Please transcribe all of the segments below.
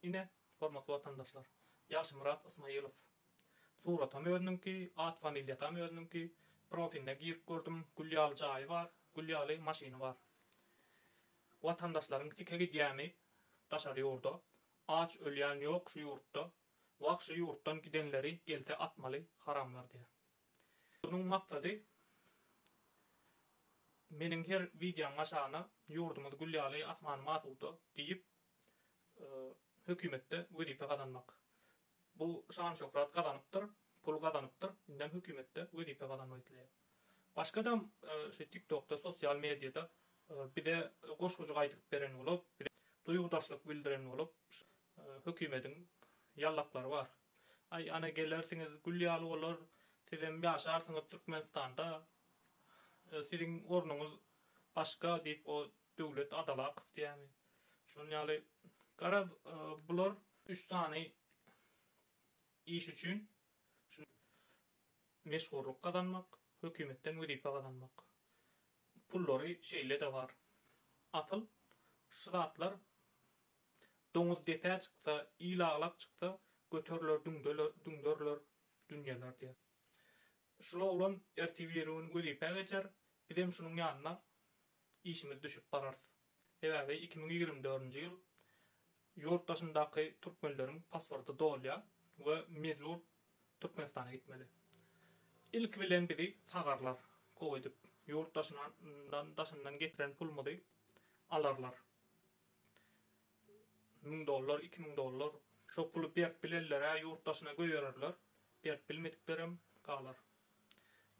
Ine, hormatly watandaşlar, Ýagşymyrat Ysmaýylow. Suratam özüniňki, at-familiýasam özüniňki. Profiline girip gördüm, gül ýaly jaýy bar, gül ýaly maşyny bar. Watandaşlaryň sike gidýäni daşary ýurda. Aç ölýän ýok şu ýurtda. Wah şu ýurtdan gidenleri gelse atmaly haramlar diýýär. Munuň maksady meniň her wideom aşagyna ýurdumyz gül ýaly, asmanymyz asuda diýip hökümetde wezipe gazanmak. Bu şan-şöhrat gazanypdyr, pul gazanypdyr, indem hökümetde wezipe gazanmak isleýär. Başgadam şu TikTokda, sosial mediýada bize goşgujyk aýdyp beren bolup, bize duýgudaşlyk bildiren bolup, hökümediň ýallaklary bar. Aý, ana gelersiňiz, gül ýaly bolar, sizem ýaşarsyňyz Türkmenistanda, siziň ornuňyz başga diýip, o Döwlet Adalakow diýýärmi? Şonuň ýaly. Garaz, bular üç sany iş üçin meşhurlyk gazanmak, hökümetden wezipe gazanmak. Pullary şeýle-de bar. Asyl şu zatlar doňuz depä çyksa, il aglap çyksa, göteriler düňderiler dünýeler diýýär. Şul oglan ertir-birigün wezipä geçer, bizem şunuň ýanyna işimiz düşüp bararys. Sebäbi iki müň ýigrimi dördünji ýyl ýurt daşyndaky türkmenleriň pasporty dolýar we mejbur Türkmenistana gitmeli. Ilki bilen bizi sagarlar, gowy edip, ýurt daşyndan getiren pulumyzy alarlar. Müň dollar, iki müň dollar. Şo puly berip bilenler-ä ýurt daşyna göýererler, berip bilmediklerem galar.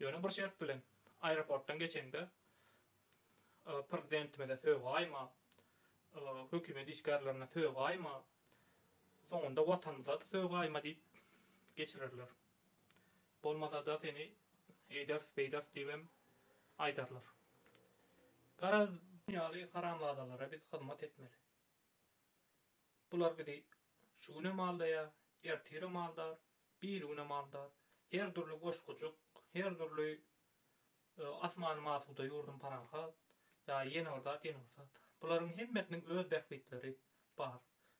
Ýöne bir şert bilen, aeroportdan geçeňde prezidentimize sögaýma, hökümet işgärlerine sögaýma, soňunda Watanymyza-da sögaýma diýip geçirerler. Bolmasa-da seni eýders, beýders diýibem aýdarlar. Garaz, bu ýaly haramzadalara biz hyzmat etmeli. Bular bizi şu günem aldaýar, ertirem aldar, birigünem aldar. Her dürli goşgujyk, her dürli asmanymy asuda, ýurdum parahat, ýa ýene bir zat, ýene bir zat. Bularyň hemmesiniň öz bähbitleri bar.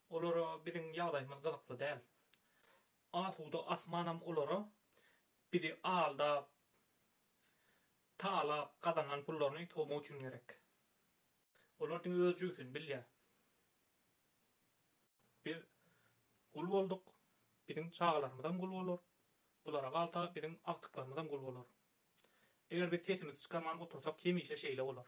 Olara biziň ýagdaýymyz gyzykly däl. Asuda asmanam olara bizi aldap, talap gazanan pullaryny sowmak üçin gerek. Olar diňe öz jübüsini bilýär. Biz gul bolduk, biziň çagalarymyzam gul bolar. Bulara galsa, biziň agtyklarymyzam gul bolar. Eger biz sesimizi çykarman otursak hemişe şeýle bolar.